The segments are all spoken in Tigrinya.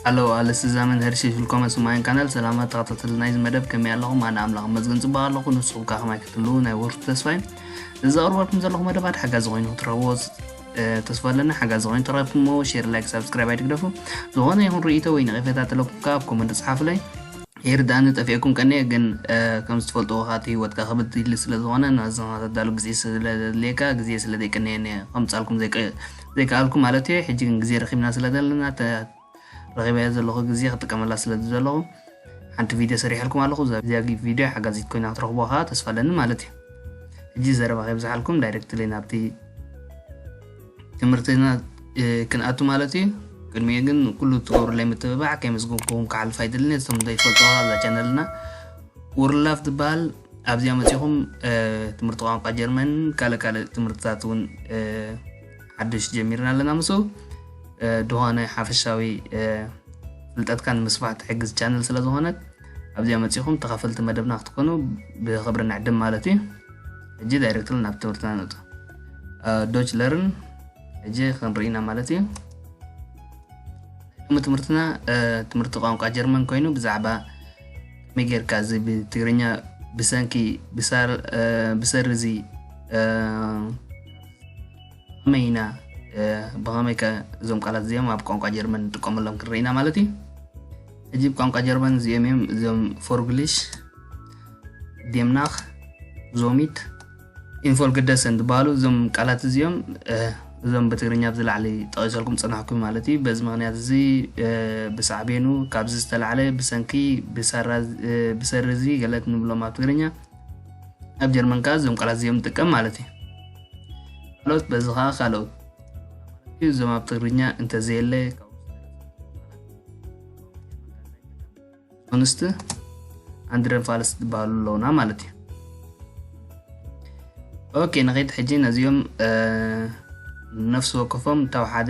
ኣለዎ ኣለስ እዛ መንሀር ሸሽልኮመ ስማይን ካናል ሰላማ ተኸታተል ናይዚ መደብ ከመይ ኣለኹም ኣነ ኣምላኽ መዝገን ፅቡቅ ኣለኹ ንስኹም ከ ከማይ ክትህልው ናይ ወርቱ ተስፋይ እዚ ኣቅርበልኩም ዘለኹ መደባት ሓጋዚ ኮይኑ ክትረኽብዎ ተስፋ ኣለና ሓጋዚ ኮይኑ ተረፍ እሞ ሼር ላይክ ሳብስክራይብ ኣይትግደፉ ዝኾነ ይኹን ርእይቶ ወይ ነቒፈታ ተለኩም ከ ኣብ ኮመንት ጽሓፉለይ ይርዳእኒ ጠፊኤኩም ቀኒየ ግን ከም ዝትፈልጥዎ ካቲ ህይወትካ ክብድ ይሊ ስለ ዝኾነ ናዝኻ ተዳሉ ግዜ ስለ ዘድልየካ ግዜ ስለ ዘይቅነየኒ ከምጻልኩም ዘይከኣልኩ ማለት እዩ ሕጂ ግን ግዜ ረኺብና ስለ ዘለና ረኺበያ ዘለኹ ግዜ ክጥቀመላ ስለ ዝደለኹ ሓንቲ ቪድዮ ሰሪሐልኩም ኣለኹ እዚኣ ጊፍ ቪድዮ ሓጋዚት ኮይና ክትረኽቡዋ ከኣ ተስፋ ኣለኒ ማለት እዩ ሕጂ ዘረባ ከይብዝሓልኩም ዳይረክትሊ ናብቲ ትምህርትና ክንኣቱ ማለት እዩ ቅድሚኡ ግን ኩሉ ትገብሩለይ ምትብባዕ ከይመስገንኩም ክሓልፍ ኣይደልኒ እቶም ዘይፈልጡ ኣዛ ቻነልና ውርላፍ ትበሃል ኣብዚኣ መፂኹም ትምህርቲ ቋንቋ ጀርመን ካልእ ካልእ ትምህርትታት እውን ሓድሽ ጀሚርና ኣለና ምስኡ ድኾነ ሓፈሻዊ ፍልጠትካ ንምስፋሕ ትሕግዝ ቻነል ስለ ዝኾነት ኣብዚኣ መፂኹም ተኸፈልቲ መደብና ክትኮኑ ብክብሪ ንዕድም ማለት እዩ ሕጂ ዳይሬክትሊ ናብ ትምህርትና ንውፅ ዶች ለርን ሕጂ ክንርኢና ማለት እዩ ሎሚ ትምህርትና ትምህርቲ ቋንቋ ጀርመን ኮይኑ ብዛዕባ ከመይ ጌርካ እዚ ብትግርኛ ብሰንኪ ብሰሪ እዚ ከመይ ኢና ብኸመይ ከ እዞም ቃላት እዚኦም ኣብ ቋንቋ ጀርመን ንጥቀመሎም ክንርኢና ማለት እዩ ሕጂ ብ ቋንቋ ጀርመን እዚኦም እዮም እዞም ፎርግሊሽ ዴምናኽ ዞሚት ኢንፎልግደሰን ዝበሃሉ እዞም ቃላት እዚኦም እዞም ብትግርኛ ኣብ ዝላዕሊ ጠቒሰልኩም ፅናሕኩ ማለት እዩ በዚ ምክንያት እዚ ብሳዕቤኑ ካብዚ ዝተላዕለ ብሰንኪ ብሰሪ እዚ ገለት ንብሎም ኣብ ትግርኛ ኣብ ጀርመን ከዓ እዞም ቃላት እዚኦም ንጥቀም ማለት እዩ ካልኦት በዚ ከዓ ካልኦት እዞም ኣብ ትግርኛ እንተዘየለ ኮንስት ኣንድረን ፋልስ ዝበሃሉ ኣለውና ማለት እዩ ኦኬ ንኸይድ ሕጂ ነዚኦም ነፍሲ ወከፎም ታብ ሓደ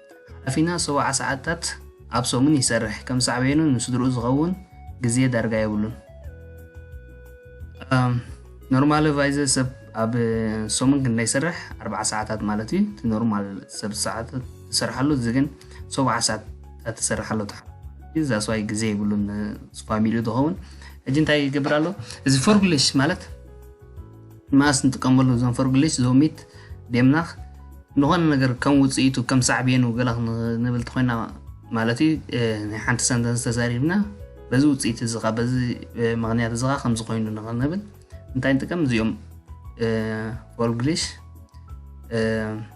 ሓላፊና ሰውዓ ሰዓታት ኣብ ሰሙን ይሰርሕ ከም ሳዕቤኑ ንስድርኡ ዝኸውን ግዜ ዳርጋ የብሉን። ኖርማል ቫይዘ ሰብ ኣብ ሰሙን ክንደይ ይሰርሕ? ኣርባዓ ሰዓታት ማለት እዩ። እቲ ኖርማል ሰብ ሰዓታት ትሰርሓሉ እዚ ግን ሰብዓ ሰዓታት ትሰርሓሉ ተሓ እዛ ሰዋይ ግዜ ይብሉን ፋሚሊ ዝኸውን ሕጂ እንታይ ይገብር ኣሎ እዚ ፎርግሊሽ ማለት መኣስ ንጥቀመሉ እዞም ፈርግሊሽ፣ ዞሚት፣ ዴምናኽ፣ ንኾነ ነገር ከም ውጽኢቱ ከም ሳዕቤኑ ገለኽ ንብል ተኾይና ማለት እዩ ናይ ሓንቲ ሰንተንስ ተዛሪብና በዚ ውጽኢት እዚ ኻ በዚ ምክንያት እዚ ኻ ከምዚ ኮይኑ ንብል እንታይ ንጥቀም እዚኦም ፈርግሊሽ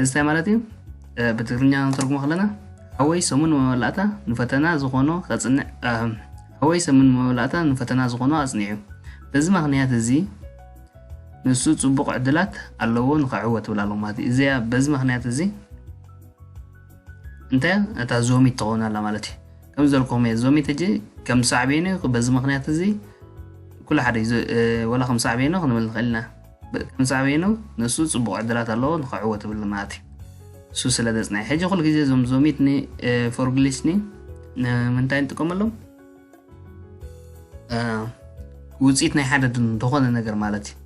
እዚ እንታይ ማለት እዩ ብትግርኛ ንተርጉሞ ከለና ሓወይ ሰሙን መመላእታ ንፈተና ዝኾኖ ከፅንዕ ሓወይ ሰሙን መመላእታ ንፈተና ዝኾኖ ኣፅኒዑ በዚ ምክንያት እዚ ንሱ ፅቡቕ ዕድላት ኣለዎ ንክዕወት ትብል ኣለዎ ማለት እዩ እዚኣ በዚ ምክንያት እዚ እንታይ እታ ዞሚት ትኸውን ኣላ ማለት እዩ ከም ዘልኩም እየ ዞሚት ሕጂ ከም ሳዕቤኑ በዚ ምክንያት እዚ ኩሉ ሓደ እዩ ወላ ከም ሳዕቤኑ ክንብል ንኽእል ኢና ከም ሳዕቤኑ ንሱ ጽቡቕ ዕድላት ኣለዎ ንኽዕወት እብል ማእቲ እሱ ስለ ዘጽናይ ሕጂ ኩሉ ግዜ እዞም ዞሚትኒ ፎርግሊስኒ ንምንታይ ንጥቀመሎም ውፅኢት ናይ ሓደ ዝኾነ ነገር ማለት እዩ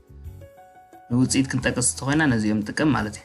ንውፅኢት ክንጠቅስ ተኮይና ነዚኦም ንጥቀም ማለት እዩ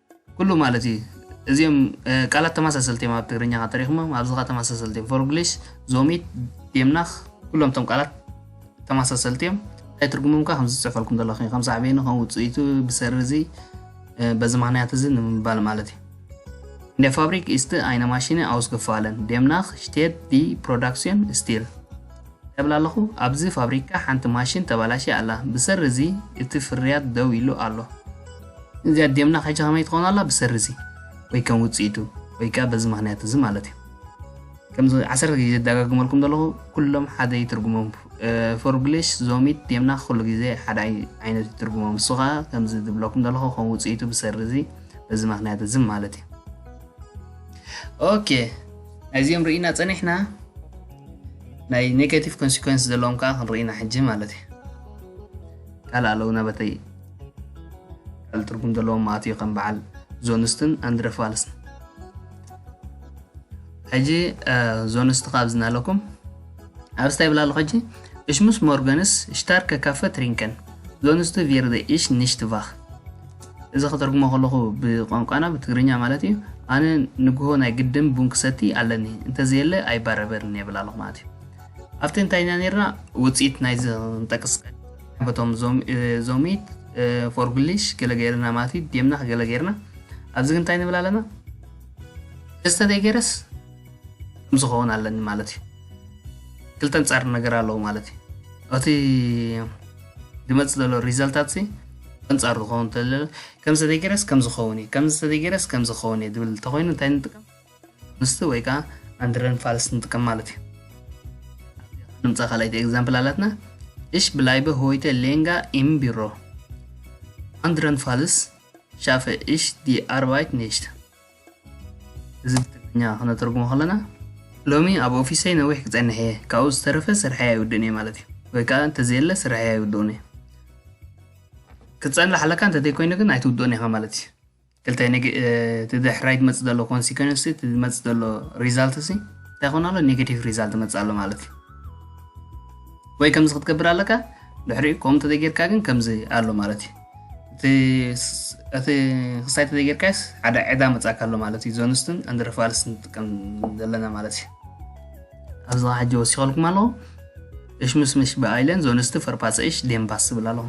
ኩሉ ማለት እዩ እዚኦም ቃላት ተመሳሰልቲ እዮም ኣብ ትግርኛ ከ ተሪኽሞም ኣብዚ ከ ተመሳሰልቲ እዮም ፎርግሊሽ ዞሚት ዴምናኽ ኩሎም እቶም ቃላት ተመሳሰልቲ እዮም እንታይ ትርጉሞም ከ ከምዚ ዝፅሕፈልኩም ዘለኹ ከም ሳዕቤኑ ከም ውፅኢቱ ብሰሪ እዚ በዚ ምክንያት እዚ ንምባል ማለት እዩ In der Fabrik ist eine Maschine ausgefallen. Demnach steht die Produktion still. ተብል ኣለኹ ኣብዚ ፋብሪካ ሓንቲ ማሽን ተባላሽ ኣላ ብሰሪ እዚ እቲ ፍርያት ደው ኢሉ ኣሎ እዚኣ ዴምና ሕጂ ከመይ ትኾን ኣላ ብሰሪ እዚ ወይ ከም ውጽኢቱ ወይ ከኣ በዚ ምኽንያት እዚ ማለት እዩ ከምዚ ዓሰርተ ግዜ ዘደጋግመልኩም ዘለኹ ኩሎም ሓደ ይትርጉሞም ፎርግሊሽ ዞሚት ዴምና ኩሉ ግዜ ሓደ ዓይነት ይትርጉሞም እሱ ከኣ ከምዚ ዝብለኩም ዘለኹ ከም ውጽኢቱ ብሰሪ እዚ በዚ ምኽንያት እዚ ማለት እዩ ኦኬ ናይዚኦም ርኢና ጸኒሕና ናይ ኔጋቲቭ ኮንሲኮንስ ዘለዎም ከዓ ክንርኢና ሕጂ ማለት እዩ ካልእ ኣለውና በተይ ቃል ትርጉም ዘለዎም ኣትዩ ከም በዓል ዞንስትን ኣንድረፋልስን ሕጂ ዞንስት ካብ ዝናለኩም ኣብ ስታይ ብላ ኣለኹ ሕጂ እሽ ምስ ሞርገንስ ሽታርከ ካፈ ትሪንከን ዞንስት ቪርደ እሽ ንሽት ቫኽ እዚ ከተርጉሞ ከለኹ ብቋንቋና ብትግርኛ ማለት እዩ ኣነ ንግሆ ናይ ግድም ቡን ክሰቲ ኣለኒ እንተዘየለ ኣይባረበርን የብል ኣለኹ ማለት እዩ ኣብቲ እንታይና ነርና ውፅኢት ናይዚ ንጠቅስ በቶም ዞሚት ፎርጉሊሽ ገለ ገይርና ማለት እዩ ዴምና ገለ ገይርና ኣብዚ ግን እንታይ ንብል ኣለና ደስተ ዘይገይረስ ከምዚ ኸውን ኣለኒ ማለት እዩ ክልተ ንፃር ነገር ኣለዎ ማለት እዩ እቲ ዝመፅ ዘሎ ሪዛልታት ሲ ኣንፃር ዝኸውን ተለ ከምዚ ዘይገይረስ ከም ዝኸውን እዩ ከምዚ ዘይገይረስ ከም ዝኸውን እዩ ዝብል እንተኮይኑ እንታይ ንጥቀም ምስቲ ወይ ከኣ ኣንድረን ፋልስ ንጥቀም ማለት እዩ። ንምጻ ካልኣይቲ ኤግዛምፕል ኣላትና እሽ ብላይበ ሆይተ ሌንጋ ኢም ቢሮ ኣንድረን ፋልስ ሻፈ እሽ ዲ ኣርባይት ኔሽት እዚ ብትግርኛ ክነተርጉሞ ከለና ሎሚ ኣብ ኦፊሰይ ነዊሕ ክጸንሕ እየ ካብኡ ዝተረፈ ስርሐይ ኣይውድእን እየ ማለት እዩ ወይ ከዓ እንተዘየለ ስርሐይ ኣይውድኡን እየ ክትጸንሕ ኣለካ እንተዘይኮይኑ ግን ኣይትውድኡን ኢኻ ማለት እዩ ክልተ እቲ ድሕራይ ዝመፅእ ዘሎ ኮንሲኮንስ እቲ ዝመፅእ ዘሎ ሪዛልት ሲ እንታይ ኮን ኣሎ ኔጋቲቭ ሪዛልት መፅእ ኣሎ ማለት እዩ ወይ ከምዚ ክትገብር ኣለካ ድሕሪኡ ከምኡ እንተዘይጌርካ ግን ከምዚ ኣሎ ማለት እዩ እቲ ክሳይ እንተዘይጌርካስ ሓደ ዕዳ መፃእካ ኣሎ ማለት እዩ ዞንስትን ኣንድረፋልስ ንጥቀም ዘለና ማለት እዩ ኣብዚ ሕጂ ወሲኸልኩም ኣለኹ እሽምሽምሽ ብኣይለን ዞንስቲ ፈርጳጸ ኢሽ ዴምባስ ዝብል ኣለኹ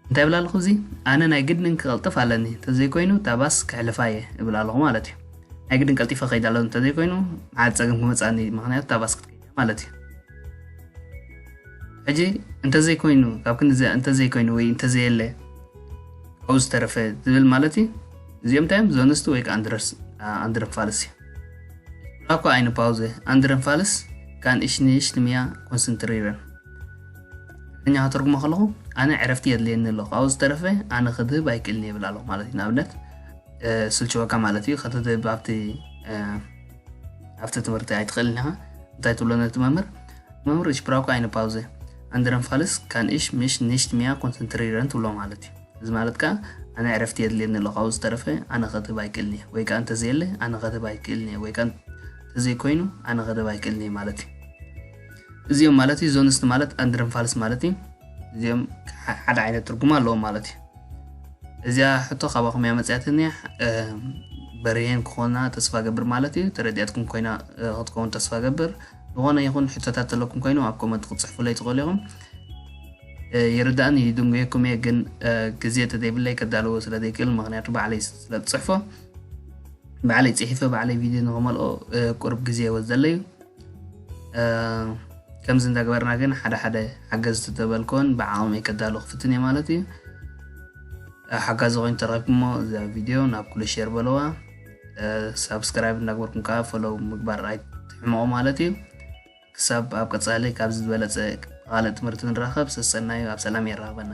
እንታይ እብል ኣለኹ እዚ ኣነ ናይ ግድን ክቐልጥፍ ኣለኒ እንተዘይኮይኑ እታ ባስ ክሕልፋ እየ እብል ኣለኹ ማለት እዩ ናይ ግድን ቀልጢፈ ከይድ ኣሎ እንተዘይኮይኑ መዓት ፀገም ክመፅኣኒ እዩ ምክንያቱ እታ ባስ ክትከይድ እያ ማለት እዩ ሕጂ እንተዘይኮይኑ ካብ ክንዚ እንተዘይኮይኑ ወይ እንተዘየለ ካብኡ ዝተረፈ ዝብል ማለት እዩ እዚኦም እንታይ እዮም ዞንስቲ ወይ ከዓ ኣንድረስ ኣንድረን ፋልስ እዩ Rako eine Pause. Andernfalls ካን እሽ ንእሽ ትምያ ኮንሰንትሪረን እኛ ከተርጉሞ ከለኹ ኣነ ዕረፍቲ የድልየኒ ኣሎ ካብኡ ዝተረፈ ኣነ ክድህብ ኣይክእልን ይብል ኣለኹ ማለት እዩ ንኣብነት ስልችወካ ማለት እዩ ከተድህብ ኣብቲ ኣብቲ ትምህርቲ ኣይትኽእልን ኢኻ እንታይ ትብሎ ነቲ መምህር መምህር እሽ ብራውካ ኣይነ ፓውዘ ኣንድረን ፋልስ ካን እሽ ምሽ ንሽት ሚያ ኮንሰንትሪረን ትብሎ ማለት እዩ እዚ ማለት ከኣ ኣነ ዕረፍቲ የድልየኒ ኣሎ ካብኡ ዝተረፈ ኣነ ከትህብ ኣይክእልን እየ ወይ ከኣ እንተዘየለ ኣነ ከትህብ ኣይክእልን እየ ወይ ከኣ እንተዘይኮይኑ ኣነ ከትህብ ኣይክእልን እየ ማለት እዩ እዚኦም ማለት እዩ ዞንስት ማለት ኣንድረን ፋልስ ማለት እዩ እዚኦም ሓደ ዓይነት ትርጉም ኣለዎም ማለት እዩ እዚያ ሕቶ ካባኹም እያ መፅያትኒ በርሄን ክኾና ተስፋ ገብር ማለት እዩ ተረዲያትኩም ኮይና ክትከውን ተስፋ ገብር ዝኾነ ይኹን ሕቶታት ዘለኩም ኮይኑ ኣብ ኮመንት ክትጽሕፉለይ ትኽእሉ ኢኹም። ይርዳእኒ ይድንጉየኩም እየ ግን ግዜ ተዘይብለይ ከዳልዎ ስለ ዘይክእል ምክንያቱ ባዕለይ ስለ ዝፅሕፎ ባዕለይ ፅሒፈ ባዕለይ ቪድዮ ንክመልኦ ቁርብ ግዜ ይወስደለ እዩ ከምዚ እንዳገበርና ግን ሓደ ሓደ ሓገዝቲ ተበልኮን ብዓቕሚ ከዳሉ ክፍትን እየ ማለት እዩ ሓጋዚ ኮይኑ ተረኪብኩሞ እዛ ቪድዮ ናብ ኩሉ ሼር በለዋ ሳብስክራይብ እንዳግበርኩም ከዓ ፈለው ምግባር ኣይትሕመቑ ማለት እዩ ክሳብ ኣብ ቀፃሊ ካብዚ ዝበለፀ ብካልእ ትምህርቲ ንራኸብ ሰሰናዩ ኣብ ሰላም የራኽበና